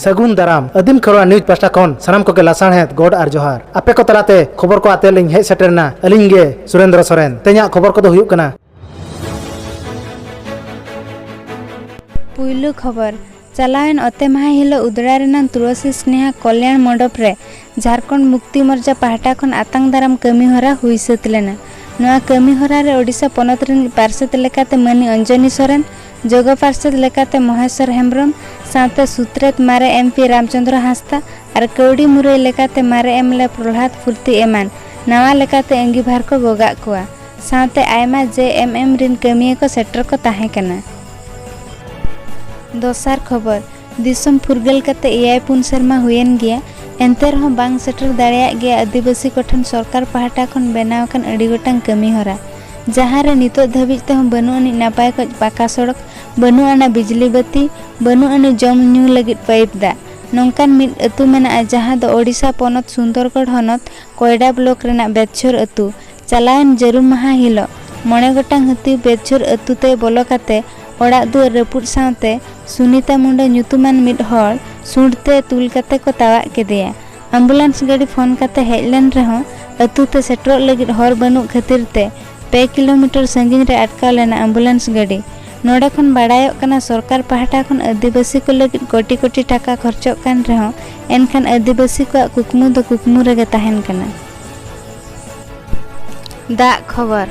ᱥᱟᱹᱜᱩᱱ ᱫᱟᱨᱟᱢ ᱟᱹᱫᱤᱢ ᱠᱷᱚᱨᱣᱟ ᱱᱤᱭᱩᱡᱽ ᱯᱟᱥᱴᱟ ᱠᱷᱚᱱ ᱥᱟᱱᱟᱢ ᱠᱚᱜᱮ ᱞᱟᱥᱟᱬᱦᱮᱫ ᱜᱚᱰ ᱟᱨ ᱡᱚᱦᱟᱨ ᱟᱯᱮ ᱠᱚ ᱛᱟᱞᱟᱛᱮ ᱠᱷᱚᱵᱚᱨ ᱠᱚ ᱟᱛᱮ ᱞᱤᱧ ᱦᱮᱡ ᱥᱮᱴᱮᱨᱱᱟ ᱟᱹᱞᱤᱧ ᱜᱮ ᱥᱩᱨᱮᱱᱫᱨᱚ ᱥᱚᱨᱮᱱ ᱛᱮᱦᱮᱧᱟᱜ ᱠᱷᱚᱵᱚᱨ ᱠᱚᱫᱚ ᱦᱩᱭᱩᱜ ᱠᱟᱱᱟ ᱯᱩᱭᱞᱩ ᱠᱷᱚᱵᱚᱨ ᱪᱟᱞᱟᱣᱮᱱ ᱚᱛᱮ ᱢᱟᱦᱟ ᱦᱤᱞᱳᱜ ᱩᱫᱽᱲᱟ ᱨᱮᱱᱟᱜ ᱛᱩᱞᱟᱹᱥᱤ ᱥᱱᱮᱦᱟ ᱠᱚᱞᱭᱟᱬ ᱢᱚᱰᱚᱯ ᱨᱮ ᱡᱷᱟᱨᱠᱷᱚᱸᱰ ᱢᱩᱠᱛᱤ ᱢᱚᱨᱪᱟ ᱯᱟᱦᱴᱟ ᱠᱷᱚᱱ ᱟᱛᱟᱝ ᱫᱟᱨᱟᱢ ᱠᱟᱹᱢᱤ ᱦᱚᱨᱟ ᱦᱩᱭ ᱥᱟᱹᱛ ᱞᱮᱱᱟ ᱱᱚᱣᱟ ᱠᱟᱹᱢᱤ ᱦᱚᱨᱟ ᱨᱮ ᱳᱰᱤᱥᱟ ᱯᱚᱱᱚᱛ ᱨᱤᱱᱤᱡ ᱯᱟᱨᱥᱮᱛ ᱞᱮᱠᱟᱛᱮ ᱢᱟᱹᱱᱤ ᱚᱧᱡᱚᱱᱤ ᱥᱚᱨᱮᱱ ᱡᱚᱜᱚ ᱯᱟᱨᱥᱮᱛ ᱞᱮᱠᱟᱛᱮ ᱢᱚᱦᱮᱥᱚᱨ ᱦᱮᱢᱵᱽᱨᱚᱢ ᱥᱟᱶᱛᱮ ᱥᱩᱛᱨᱮᱛ ᱢᱟᱨᱮ ᱮᱢ ᱯᱤ ᱨᱟᱢᱪᱚᱸᱫᱽᱨᱚ ᱦᱟᱸᱥᱫᱟ ᱟᱨ ᱠᱟᱹᱣᱰᱤ ᱢᱩᱨᱟᱹᱭ ᱞᱮᱠᱟᱛᱮ ᱢᱟᱨᱮ ᱮᱢ ᱮᱞ ᱮ ᱯᱨᱚᱞᱦᱟᱫᱽ ᱯᱷᱩᱨᱛᱤ ᱮᱢᱟᱱ ᱱᱟᱣᱟ ᱞᱮᱠᱟᱛᱮ ᱟᱺᱜᱤᱵᱷᱟᱨ ᱠᱚ ᱜᱚᱜᱟᱜ ᱠᱚᱣᱟ ᱥᱟᱶᱛᱮ ᱟᱭᱢᱟ JMM ᱨᱤᱱ ᱠᱟᱹᱢᱤᱭᱟᱹ ᱠᱚ ᱥᱮᱴᱮᱨ ᱠᱚ ᱛᱟᱦᱮᱸ ᱠᱟᱱᱟ᱾ ᱫᱚᱥᱟᱨ ᱠᱷᱚᱵᱚᱨ, ᱫᱤᱥᱚᱢ ᱯᱷᱩᱨᱜᱟᱹᱞ ᱠᱟᱛᱮ ᱮᱭᱟᱭ ᱯᱩᱱ ᱥᱮᱨᱢᱟ ᱦᱩᱭᱮᱱ ᱜᱮᱭᱟ, ᱮᱱᱛᱮ ᱨᱮᱦᱚᱸ ᱵᱟᱝ ᱥᱮᱴᱮᱨ ᱫᱟᱲᱮᱭᱟᱜ ᱜᱮᱭᱟ ᱟᱹᱫᱤᱵᱟᱹᱥᱤ ᱠᱚ ᱴᱷᱮᱱ ᱥᱚᱨᱠᱟᱨ ᱯᱟᱦᱴᱟ ᱠᱷᱚᱱ ᱵᱮᱱᱟᱣ ᱟᱠᱟᱱ ᱟᱹᱰᱤ ᱜᱚᱴᱟᱝ ᱠᱟᱹᱢᱤ ᱦᱚᱨᱟ, ᱡᱟᱦᱟᱸ ᱨᱮ ᱱᱤᱛᱚᱜ ᱫᱷᱟᱹᱵᱤᱡ ᱛᱮᱦᱚᱸ ᱵᱟᱹᱱᱩᱜ ᱟᱹᱱᱤᱡ ᱱᱟᱯᱟᱭ ᱠᱚᱡ ᱯᱟᱠᱟ ᱥᱚᱲᱚᱠ, ᱵᱟᱹᱱᱩᱜ ᱟᱱᱟ ᱵᱤᱡᱽᱞᱤ ᱵᱟᱹᱛᱤ, ᱵᱟᱹᱱᱩᱜ ᱟᱹᱱᱤᱡ ᱡᱚᱢ ᱧᱩ ᱞᱟᱹᱜᱤᱫ ᱯᱟᱭᱤᱯ ᱫᱟᱜ᱾ ᱱᱚᱝᱠᱟᱱ ᱢᱤᱫ ᱟᱹᱛᱩ ᱢᱮᱱᱟᱜᱼᱟ ᱡᱟᱦᱟᱸ ᱫᱚ ᱳᱰᱤᱥᱟ ᱯᱚᱱᱚᱛ ᱥᱩᱱᱫᱚᱨᱜᱚᱲ ᱦᱚᱱᱚᱛ ᱠᱚᱭᱰᱟ ᱵᱞᱚᱠ ᱨᱮᱱᱟᱜ ᱵᱮᱫᱪᱷᱳᱨ ᱟᱹᱛᱩ, ᱪᱟᱞᱟᱣᱮᱱ ᱡᱟᱹᱨᱩᱢ ᱢᱟᱦᱟᱸ ᱦᱤᱞᱚᱜ ᱢᱚᱬᱮ ᱜᱚᱴᱟᱝ ᱦᱟᱹᱛᱤ ᱵᱮᱨᱡᱷᱳᱨ ᱟᱹᱛᱩ ᱛᱮ ᱵᱚᱞᱚ ᱠᱟᱛᱮ ᱚᱲᱟᱜ ᱫᱩᱣᱟᱹᱨ ᱨᱟᱹᱯᱩᱫ ᱥᱟᱶᱛᱮ ᱥᱩᱱᱤᱛᱟ ᱢᱩᱸᱰᱟ ᱧᱩᱛᱩᱢᱟᱱ ᱢᱤᱫ ᱦᱚᱲ ᱥᱩᱸᱰ ᱛᱮ ᱛᱩᱞ ᱠᱟᱛᱮ ᱠᱚ ᱛᱟᱣᱟᱜ ᱠᱮᱫᱮᱭᱟ᱾ ᱟᱢᱵᱩᱞᱟᱱᱥ ᱜᱟᱹᱰᱤ ᱯᱷᱚᱱ ᱠᱟᱛᱮ ᱦᱮᱡ ᱞᱮᱱ ᱨᱮᱦᱚᱸ ᱟᱹᱛᱩ ᱛᱮ ᱥᱮᱴᱮᱨᱚᱜ ᱞᱟᱹᱜᱤᱫ ᱦᱚᱨ ᱵᱟᱹᱱᱩᱜ ᱠᱷᱟᱹᱛᱤᱨ ᱛᱮ ᱯᱮ ᱠᱤᱞᱚᱢᱤᱴᱚᱨ ᱥᱟᱺᱜᱤᱧ ᱨᱮ ᱟᱴᱠᱟᱣ ᱞᱮᱱᱟ ᱟᱢᱵᱩᱞᱟᱱᱥ ᱜᱟᱹᱰᱤ᱾ ᱱᱚᱸᱰᱮ ᱠᱷᱚᱱ ᱵᱟᱰᱟᱭᱚᱜ ᱠᱟᱱᱟ ᱥᱚᱨᱠᱟᱨ ᱯᱟᱦᱴᱟ ᱠᱷᱚᱱ ᱟᱹᱫᱤᱵᱟᱹᱥᱤ ᱠᱚ ᱞᱟᱹᱜᱤᱫ ᱠᱚᱴᱤ ᱠᱚᱴᱤ ᱴᱟᱠᱟ ᱠᱷᱚᱨᱪᱚᱜ ᱠᱟᱱ ᱨᱮᱦᱚᱸ ᱮᱱᱠᱷᱟᱱ ᱟᱹᱫᱤᱵᱟᱹᱥᱤ ᱠᱚᱣᱟᱜ ᱠᱩᱠᱢᱩ ᱫᱚ ᱠᱩᱠᱢᱩ ᱨᱮᱜᱮ ᱛᱟᱦᱮᱸᱱ ᱠᱟᱱᱟ᱾ ᱫᱟᱜ ᱠᱷᱚᱵᱚᱨ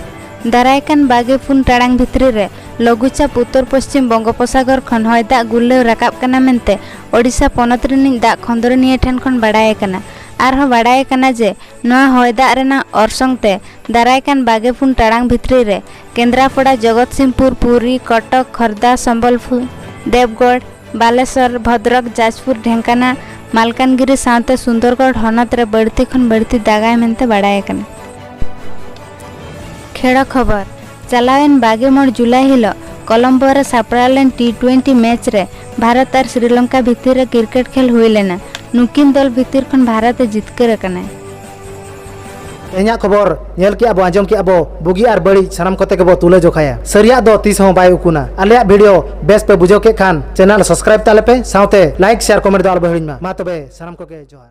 ᱫᱟᱨᱟᱭ ᱠᱟᱱ ᱵᱟᱜᱮ ᱯᱩᱱ ᱴᱟᱲᱟᱝ ᱵᱷᱤᱛᱨᱤ ᱨᱮ ᱞᱚᱜᱩᱪᱟᱯ ᱩᱛᱚᱨ ᱯᱚᱥᱪᱤᱢ ᱵᱚᱝᱜᱚᱯᱚᱥᱟᱜᱚᱨ ᱠᱷᱚᱱ ᱦᱚᱭ ᱫᱟᱜ ᱜᱩᱨᱞᱟᱹᱣ ᱨᱟᱠᱟᱵ ᱠᱟᱱᱟ ᱢᱮᱱᱛᱮ ᱳᱰᱤᱥᱟ ᱯᱚᱱᱚᱛ ᱨᱤᱱᱤᱡ ᱫᱟᱜ ᱠᱷᱚᱸᱫᱽᱨᱚᱱᱤᱭᱟᱹ ᱴᱷᱮᱱ ᱠᱷᱚᱱ ᱵᱟᱰᱟᱭ ᱟᱠᱟᱱᱟ ᱟᱨᱦᱚᱸ ᱵᱟᱰᱟᱭ ᱟᱠᱟᱱᱟ ᱡᱮ ᱱᱚᱣᱟ ᱦᱚᱭ ᱫᱟᱜ ᱨᱮᱱᱟᱜ ᱚᱨᱥᱚᱝ ᱛᱮ ᱫᱟᱨᱟᱭ ᱠᱟᱱ ᱵᱟᱜᱮ ᱯᱩᱱ ᱴᱟᱲᱟᱝ ᱵᱷᱤᱛᱨᱤ ᱨᱮ ᱠᱮᱱᱫᱽᱨᱟᱯᱚᱰᱟ ᱡᱚᱜᱚᱛᱥᱤᱝᱯᱩᱨ ᱯᱩᱨᱤ ᱠᱚᱴᱚᱠ ᱠᱷᱚᱨᱫᱟ ᱥᱚᱢᱵᱚᱞᱯᱩᱨ ᱫᱮᱵᱽᱜᱚᱲ ᱵᱟᱞᱮᱥᱚᱨ ᱵᱷᱚᱫᱽᱨᱚᱠ ᱡᱟᱡᱽᱯᱩᱨ ᱰᱷᱮᱝᱠᱟᱱᱟ ᱢᱟᱞᱠᱟᱱᱜᱤᱨᱤ ᱥᱟᱶᱛᱮ ᱥᱩᱱᱫᱚᱨᱜᱚᱲ ᱦᱚᱱᱚᱛ ᱨᱮ ᱵᱟᱹᱲᱛᱤ ᱠᱷᱚᱱ ᱵᱟᱹᱲᱛᱤ ᱫᱟᱜᱟᱭ ᱢᱮᱱᱛᱮ ᱵᱟᱲᱟᱭ ᱟᱠᱟᱱᱟ ᱠᱷᱮᱲᱚ ᱠᱷᱚᱵᱚᱨ ᱪᱟᱞᱟᱣᱮᱱ ᱵᱟᱜᱮ ᱢᱚᱬ ᱡᱩᱞᱟᱭ ᱦᱤᱞᱚᱜ ᱠᱚᱞᱚᱢᱵᱚ ᱨᱮ ᱥᱟᱯᱲᱟᱣ ᱞᱮᱱ ᱴᱤ ᱴᱩᱭᱮᱱᱴᱤ ᱢᱮᱪ ᱨᱮ ᱵᱷᱟᱨᱚᱛ ᱟᱨ ᱥᱨᱤᱞᱚᱝᱠᱟ ᱵᱷᱤᱛᱤᱨ ᱨᱮ ᱠᱨᱤᱠᱮᱴ ᱠᱷᱮᱞ ᱦᱩᱭ ᱞᱮᱱᱟ ᱱᱩᱠᱤᱱ ᱫᱚᱞ ᱵᱷᱤᱛᱤᱨ ᱠᱷᱚᱱ ᱵᱷᱟᱨᱚᱛ ᱮ ᱡᱤᱛᱠᱟᱹᱨ ᱟᱠᱟᱱᱟᱭ ᱛᱮᱦᱮᱧᱟᱜ ᱠᱷᱚᱵᱚᱨ ᱧᱮᱞ ᱠᱮᱜᱼᱟ ᱵᱚ ᱟᱸᱡᱚᱢ ᱠᱮᱜᱼᱟ ᱵᱚ ᱵᱩᱜᱤ ᱟᱨ ᱵᱟᱹᱲᱤᱡ ᱥᱟᱱᱟᱢ ᱠᱚᱛᱮ ᱜᱮᱵᱚ ᱛᱩᱞᱟᱹ ᱡᱚᱠᱷᱟᱭᱟ ᱥᱟᱹᱨᱤᱭᱟᱜ ᱫᱚ ᱛᱤᱥ ᱦᱚᱸ ᱵᱟᱭ ᱩᱠᱩᱱᱟ ᱟᱞᱮᱭᱟᱜ ᱵᱷᱤᱰᱤᱭᱳ ᱵᱮᱥ ᱯᱮ ᱵᱩᱡᱷᱟᱹᱣ ᱠᱮᱫ ᱠᱷᱟᱱ ᱪᱮᱱᱮᱞ ᱥᱟᱵᱥᱠᱨᱟᱭᱤᱵ ᱛᱟᱞᱮ ᱯᱮ ᱥᱟᱶᱛᱮ ᱞᱟᱭᱤᱠ ᱥᱮᱭᱟᱨ ᱠᱚᱢᱮᱱᱴ ᱫᱚ ᱟᱞᱚ ᱵᱚ ᱦᱤᱲᱤᱧ ᱢᱟ ᱢᱟ ᱛᱚᱵᱮ ᱥᱟᱱᱟᱢ ᱠᱚᱜᱮ ᱡᱚᱦᱟᱨ